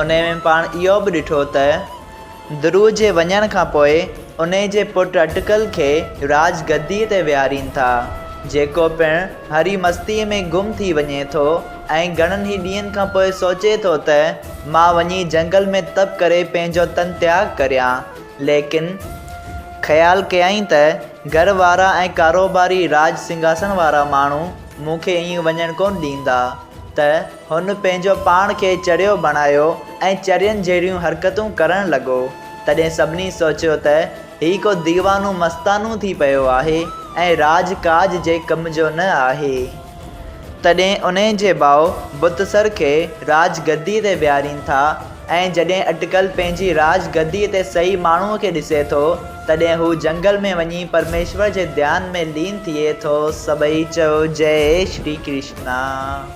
انهيء ۾ پاڻ اهو به ڏٺو ته درو جي وڃڻ کان پوء انهيء جي پٽ اٽڪل کي راڄ گديء تي ويهارين ٿا، جيڪو پڻ هري مستيء ۾ گم ٿي وڃي ٿو ۽ گهڻن ئي ڏينهن کان پوء سوچي ٿو ته مان وڃي جهنگل ۾ تپ ڪري پنهنجو تن تياڳ ڪريان، ليڪن خيال ڪيائين ته گهر وارا ۽ ڪاروباري راڄ سنگهاسڻ وارا ماڻهو مون کي ائين وڃڻ ڪونه ڏيندا ته. هن پنهنجو پاڻ کي چريو بڻايو ۽ چرين جهڙيون حرڪتون ڪرڻ لڳو. تڏهن سڀني سوچيو ته هي ڪو ديوانو مستانو ٿي پيو آهي ۽ راڄ ڪاڄ جي ڪم جو نه آهي. تڏهن انهي جي ڀاء بتسر کي راڄ گدي تي ويهارين ٿا ۽ جڏهن اٽڪل پنهنجي راڄ گدي تي صحيح ماڻهوء کي ڏسي ٿو، تڏهن هو جنگل ۾ وڃي پرميشور جي ڌيان ۾ لين ٿئي ٿو. سڀئي چئو جئي شري ڪرشنا.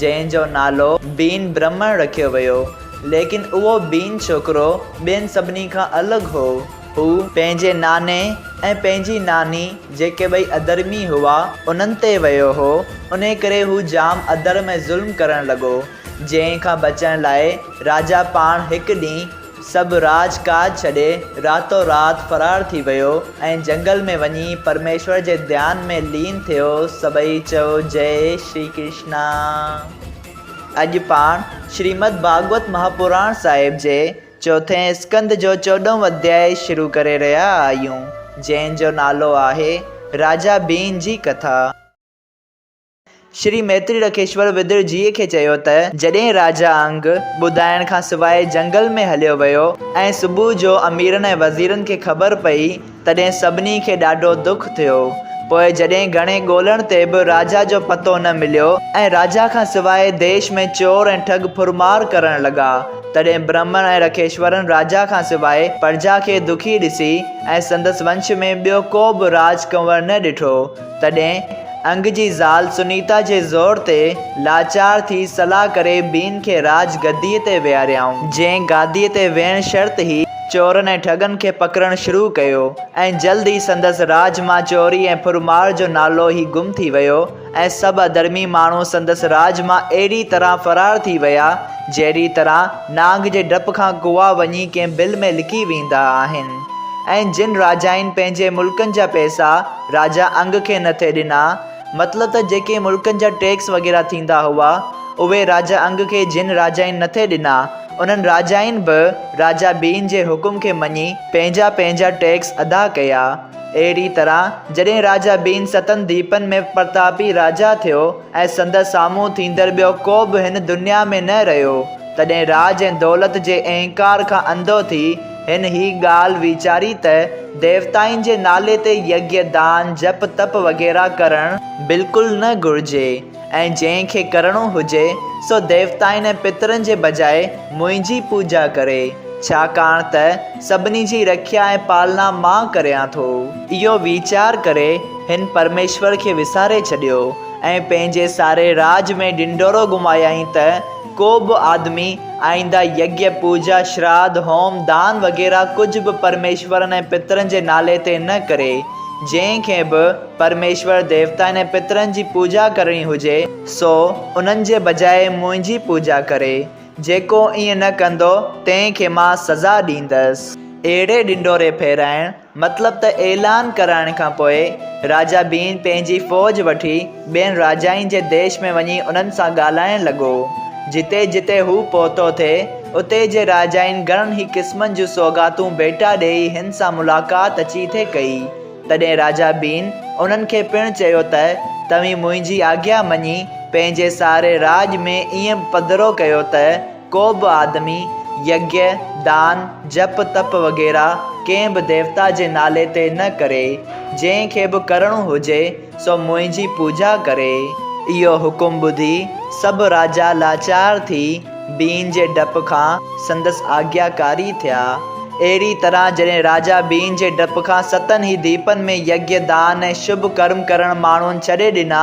جنهن جو نالو بين برهمڻ رکيو ويو، ليڪن اهو بين ڇوڪرو ٻين سڀني کان الڳ هو. هو پنهنجي ناني ۽ پنهنجي ناني جيڪي ٻئي اڌرمي هئا، انهن تي ويو هو، انهي ڪري هو جام اڌرم ۽ ظلم ڪرڻ لڳو، جنهن کان بچڻ لاء راجا پاڻ هڪ ڏينهن. سڀ راڄ ڪاڄ ڇڏي راتو رات فرار ٿي ويو ۽ جنگل ۾ وڃي پرميشور جي ڌيان ۾ لين ٿيو سڀئي چئو جئي شري ڪرشنا اڄ پاڻ شريمد ڀاڳوت مهاپراڻ صاحب جي چوٿين اسڪند جو چوڏهون اڌياء شروع ڪري رهيا آهيون جنهن جو نالو آهي راجا ڀين جي ڪٿا. شري ميتري رکيشور ويدر جيء کي چيو ته جڏهن راجا انگ ٻڌائڻ کان سواء جنگل ۾ هليو ويو ۽ صبح جو اميرن ۽ وزيرن کي خبر پئي تڏهن سڀني کي ڏاڍو دک ٿيو. پوء جڏهن گهڻي ڳولڻ تي به راجا جو پتو نه مليو ۽ راجا کان سواء ديش ۾ چور ۽ ٺڳ ڦرمار ڪرڻ لڳا تڏهن برهمڻ ۽ رکيشورن راجا کان سواء پرجا کي دکي ڏسي ۽ سندس ونش ۾ ٻيو ڪو به راج ڪنور نه ڏٺو. تڏهن انگ جي زال سنيتا جي زور تي لاچار ٿي صلاح ڪري بين کي راڄ گديء تي ويهاريائون، جنهن گاديء تي ويهڻ شرط هي، چورن ۽ ٺڳن کي پڪڙڻ شروع ڪيو ۽ جلد ئي سندس راڄ مان چوري ۽ ڦر مار جو نالو ئي گم ٿي ويو ۽ سڀ اڌرمي ماڻهو سندس راڄ مان اهڙي طرح فرار ٿي ويا، جهڙي طرح نانگ جي ڊپ کان ڪوئا وڃي ڪنهن بل ۾ لڪي ويندا آهن ۽ جن راجائين پنهنجي ملڪن جا پئسا، راجا انگ کي نه ٿي ڏنا. مطلب ته جيڪي ملڪن جا ٽيڪس وغيره ٿيندا هئا، اهي راجا انگ کي جن راجائين نه ٿي ڏنا، انهن راجائين به راجا ٻين جي حڪم کي مڃي پنهنجا پنهنجا ٽيڪس ادا ڪيا. اهڙيء طرح جڏهن راجا ٻين ستن ديپن ۾ پرتاپي راجا ٿيو ۽ سندس سامهون ٿيندڙ ٻيو ڪو به هن دنيا ۾ نه رهيو، تڏهن راڄ ۽ دولت جي اهنڪار کان انڌو ٿي، هن هي ڳالهه ويچاري ته ديوتائن جي نالي تي يگيه، دان، جپ تپ وغيره ڪرڻ بلڪل نه گهرجي ۽ جنهن کي ڪرڻو هجي سو ديوتائن ۽ پترن جي بجاء منهنجي پوڄا ڪري، ڇاڪاڻ ته سڀني جي رکيا ۽ پالنا مان ڪريان ٿو. اهو ويچار ڪري هن پرميشور کي وساري ڇڏيو ۽ پنهنجي ساري راڄ ۾ ڍنڍورو گهمايائين ته، ڪو به آدمي آئينده يگيه، پوڄا، شراڌ، هوم، دان وغيره ڪجهه به پرميشورن ۽ پترن جي نالي تي نه ڪري. جنهن کي به پرميشور، ديوتائن ۽ پترن جي پوڄا ڪرڻي هجي سو انهن جي بجاء منهنجي پوڄا ڪري. جيڪو ائين نه ڪندو تنهن کي مان سزا ڏيندس. اهڙي ڏنڊوري ڦيرائڻ مطلب ته اعلان ڪرائڻ کان پوء راجا بين پنهنجي فوج وٺي ٻين راجائين جي ديش ۾ وڃي انهن سان ڳالهائڻ لڳو. جتي جتي هو پهتو ٿي، اتي جي راجائين گهڻن ئي قسمن جون سوغاتون ڀيٽا ڏيئي هن سان ملاقات اچي ٿي ڪئي. تڏهن راجا بين انهن کي پڻ چيو ته توهين منهنجي آگيا مڃي پنهنجي ساري راڄ ۾ ائين پڌرو ڪيو ته، ڪو به آدمي يگيھ، دان، جپ تپ وغيره ڪنهن به ديوتا جي نالي تي نه ڪري. جنهن کي به ڪرڻو هجي سو منهنجي پوڄا ڪري. اهو حڪم ٻڌي سڀ راجا لاچار ٿي بين جي ڊپ کان سندس آگياڪاري ٿيا. اهڙي طرح جڏهن راجا بين جي ڊپ کان ستن ئي ديپن ۾ يگيھ، دان ۽ شڀ ڪرم ڪرڻ ماڻهن ڇڏي ڏنا،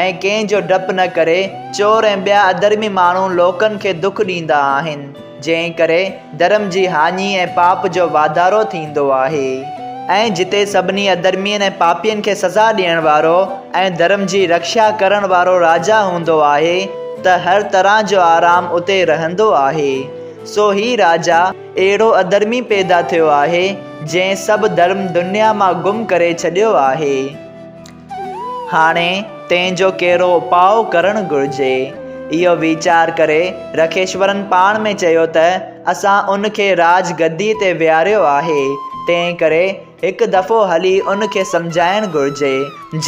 ۽ ڪنهن جو ڊپ نه ڪري، چور ۽ ٻيا اڌرمي ماڻهو لوڪن کي دک ڏيندا آهن، جنهن ڪري ڌرم جي هاڃي ۽ پاپ جو واڌارو ٿيندو آهي، ۽ جتي سڀني اڌرمين ۽ پاپين کي سزا ڏيڻ وارو ۽ ڌرم جي رڪشا ڪرڻ وارو راجا هوندو آهي ته هر طرح جو آرام اتي رهندو آهي، سو هي راجا اهڙو اڌرمي پيدا ٿيو آهي، جنهن سڀ ڌرم دنيا مان گم ڪري ڇڏيو آهي. هاڻي تنهن جو ڪهڙو اپاء ڪرڻ گهرجي؟ اهو ويچار ڪري رکيشورن پاڻ ۾ چيو ته اسان ان کي راڄ گديء تي ويهاريو آهي، تنهنڪري هڪ دفعو هلي ان کي سمجهائڻ گهرجي.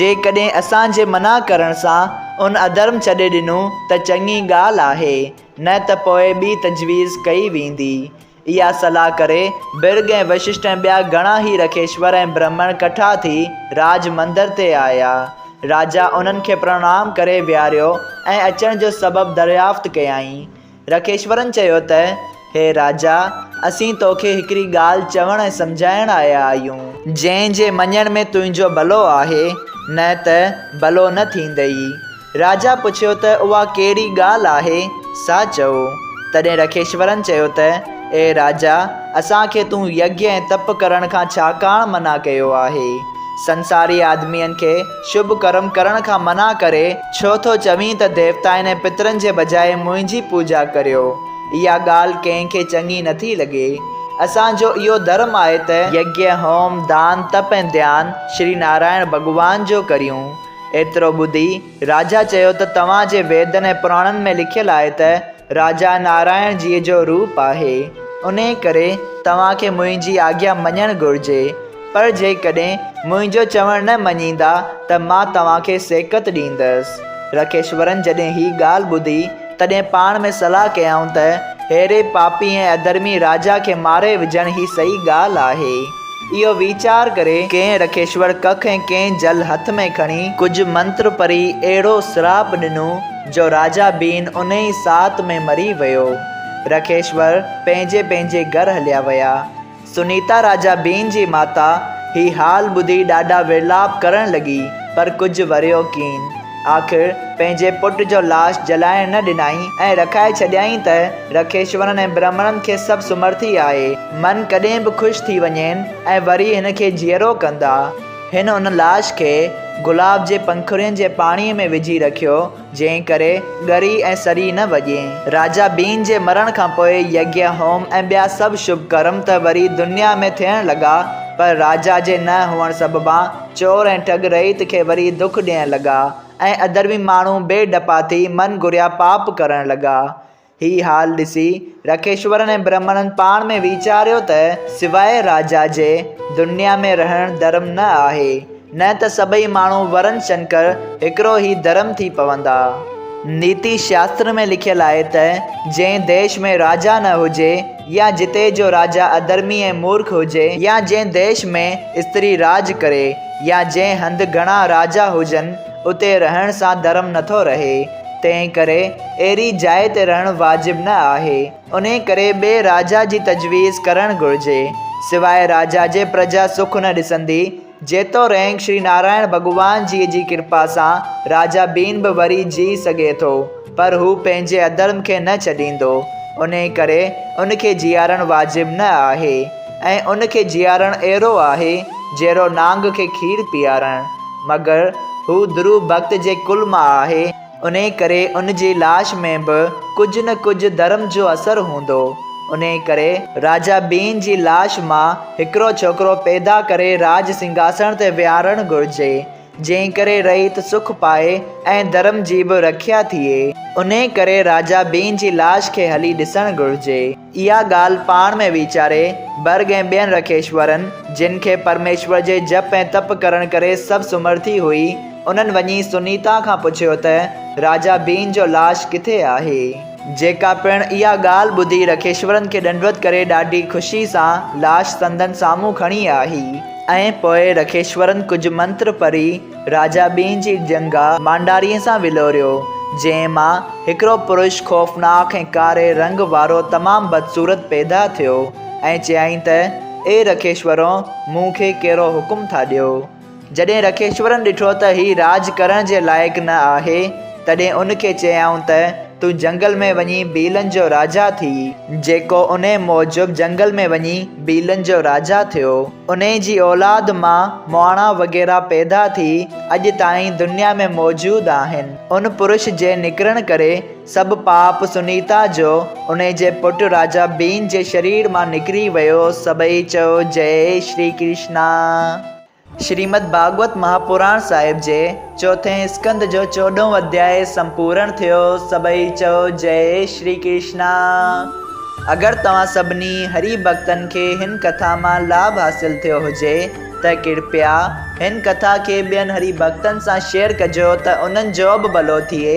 جيڪڏهن اسان جي منع ڪرڻ سان ان اڌرم ڇڏي ڏنو ته چڱي ڳالهه آهي، نه ته پوء ٻي تجويز ڪئي ويندي. اها صلاح ڪري، برگ ۽ وششٽ ۽ ٻيا گهڻا هي رکيشور ۽ برهمڻ ڪٺا ٿي راج مندر تي آيا. راجا انهن کي پرڻام ڪري ويهاريو ۽ اچڻ جو سبب دريافت ڪيائين. رکيشورن چيو ته، هي راجا! اسين تو کي هڪڙي ڳالهه چوڻ ۽ سمجهائڻ آيا آهيون. جنهن جي مڃڻ ۾ تنهنجو ڀلو آهي، نه ته ڀلو نه ٿيندئي. راجا پڇيو ته اها ڪهڙي ڳالهه آهي سا چئو. تڏهن رکيشورن چيو ته اي راجا اسان کي تون يگيا ۽ تپ ڪرڻ کان ڇا ڪاڻ منع ڪيو آهي؟ سنساري آدمين کي شڀ ڪرم ڪرڻ کان منع ڪري ڇو ٿو چوين ته ديوتائن ۽ پترن جي بجاء منهنجي پوڄا ڪريو؟ اها ڳالهه ڪنهن کي چڱي نٿي لڳي. اسان جو اهو ڌرم آهي ته. يگيا، هوم، دان، تپ ۽ ڌيان شري نارائڻ ڀڳوان جو ڪريون. ايترو ٻڌي راجا چيو ته توهان جي ويدن ۽ پراڻن ۾ لکيل آهي ته راجا نارائڻ جيء جو روپ آهي، انهيء ڪري توهان کي منهنجي آگيا مڃڻ گهرجي، پر جيڪڏهن منهنجو چوڻ نه مڃيندا ته مان توهان کي سيڪت ڏيندس. رکيشورن جڏهن هي ڳالهه ٻڌي، تڏهن پاڻ ۾ صلاح ڪيائون ته ههڙي پاپي ۽ اڌرمي راجا کي ماري وجهڻ هي صحيح ڳالهه آهي. اهو ويچار ڪري ڪنهن رکيشور ڪک ۽ ڪنهن جل هٿ ۾ کڻي ڪجهه منتر پري اهڙو سراپ ڏنو جو راجا بين انهي ئي ساعت ۾ مري ويو. رکيشور پنهنجي پنهنجي گهر هليا ويا. سنيتا راجا بين جي ماتا هي حال ٻڌي ڏاڍا ورلاپ ڪرڻ لڳي پر ڪجهه وريو ڪين. آخر پنهنجي پٽ جو لاش جلائڻ نه ڏنائين ۽ رکائي ڇڏيائين ته رکيشورن ۽ برهمڻن کي سڀ سمرٿي آهي. من ڪڏهن به خوش ٿي وڃين ۽ وري هن کي جيئرو ڪندا. هن ان لاش کي گلاب جي پنکڙين جي پاڻيء ۾ وجهي رکيو، جنهن ڪري ڳري ۽ سري نه وڄي. راجا ٻين جي مرڻ کان پوء يگيء هوم ۽ ٻيا سڀ شڀ ڪرم ته وري دنيا ۾ ٿيڻ لڳا، پر راجا جي نه هئڻ سببان، چور ۽ ٺڳ رعيت کي وري دک ڏيڻ لڳا ۽ اڌرمي ماڻهو بي ڊپا ٿي من گهريا پاپ ڪرڻ لڳا. هي حال ڏسي رکيشورن ۽ برهمڻن پاڻ ۾ ويچاريو ته سواء راجا جي دنيا ۾ رهڻ ڌرم نه آهي، نه ته سڀئي ماڻهو ورن شنڪر هڪڙو هي ڌرم ٿي پوندا. نيتي شاستر ۾ لکيل آهي ته جنهن ديش ۾ راجا نه هجي، يا جتي جو راجا اڌرمي ۽ مورک هجي يا جنهن ديش ۾ استري راڄ ڪري يا جنهن هنڌ گهڻا راجا هجن اتي رهڻ سان ڌرم نٿو رهي تنهن ڪري اهڙي جاء تي رهڻ واجب نه آهي انهي ڪري ٻئي راجا جي تجويز ڪرڻ گهرجي سواء راجا جي پرجا سک نه ڏسندي جيتوڻيڪ شري نارائڻ ڀڳوان جيء جي ڪرپا سان راجا ڀيم به وري جيء سگهي ٿو، پر هو پنهنجي اڌرم کي نه ڇڏيندو، انهيء ڪري ان کي جيئارڻ واجب نه آهي ۽ ان کي جيئارڻ اهڙو آهي، جهڙو نانگ کي کير پيئارڻ. مگر هو ڌرو ڀڳت جي ڪل مان آهي. انهيء ڪري ان جي لاش ۾ به ڪجهه نه ڪجهه ڌرم جو اثر هوندو. انهيء ڪري راجا ٻين جي لاش مان هڪڙو ڇوڪرو پيدا ڪري راڄ سنگهاسڻ تي ويهارڻ گهرجي، جنهن ڪري رعيت سک پائي ۽ ڌرم جي به رکيا ٿئي. انهيء ڪري راجا ٻين جي لاش کي هلي ڏسڻ گهرجي. اها ڳالهه پاڻ ۾ ويچاري، برگ ۽ ٻين رکيشورن، جن کي پرميشور جي جپ ۽ تپ ڪرڻ ڪري سڀ سمرٿي هئي، انهن وڃي سنيتا کان پڇيو ته راجا بين جو لاش ڪٿي آهي؟ جيڪا پڻ اها ڳالهه ٻڌي رکيشورن کي ڏنڊوت ڪري ڏاڍي خوشي سان لاش سندن سامهون کڻي آئي ۽ پوء رکيشورن ڪجهه منتر پڙهي، راجا ٻين جي ڄنگهه مانڊاريء سان ولوريو، جنهن مان هڪڙو پرش خوفناڪ ۽ ڪاري رنگ وارو تمام بدصورت پيدا ٿيو ۽ چيائين ته، اي رکيشورو، مون کي ڪهڙو حڪم ٿا ڏيو؟ جڏهن رکيشورن ڏٺو ته هي راڄ ڪرڻ جي لائق نه آهي، تڏهن ان کي چيائون ته، تون جهنگل ۾ وڃي ڀيلن جو راجا ٿي. جيڪو انهي موجب جهنگل ۾ وڃي ڀيلن جو راجا ٿيو. انهي جي اولاد مان مهاڻا وغيره پيدا ٿي اڄ تائين دنيا ۾ موجود آهن. ان پرش جي نڪرڻ ڪري سڀ پاپ سنيتا جو انهي جي پٽ راجا ڀين جي شرير مان نڪري ويو سڀئي چئو جئي شري ڪرشنا. شريمد ڀاڳوت مهاپراڻ صاحب جي چوٿين اسڪند جو چوڏهون اڌياء سمپورڻ ٿيو. سڀئي چئو جئي شري ڪرشنا. اگر توهان سڀني هري ڀڳتن کي هن ڪٿا مان لاڀ حاصل ٿيو هجي ته ڪرپيا هن ڪٿا کي ٻين هري ڀڳتن سان شيئر ڪجو ته انهن جو به ڀلو ٿئي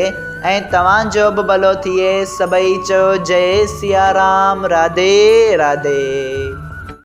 ۽ توهان جو به ڀلو ٿئي. سڀئي چئو جئي سيارام راڌي راڌي.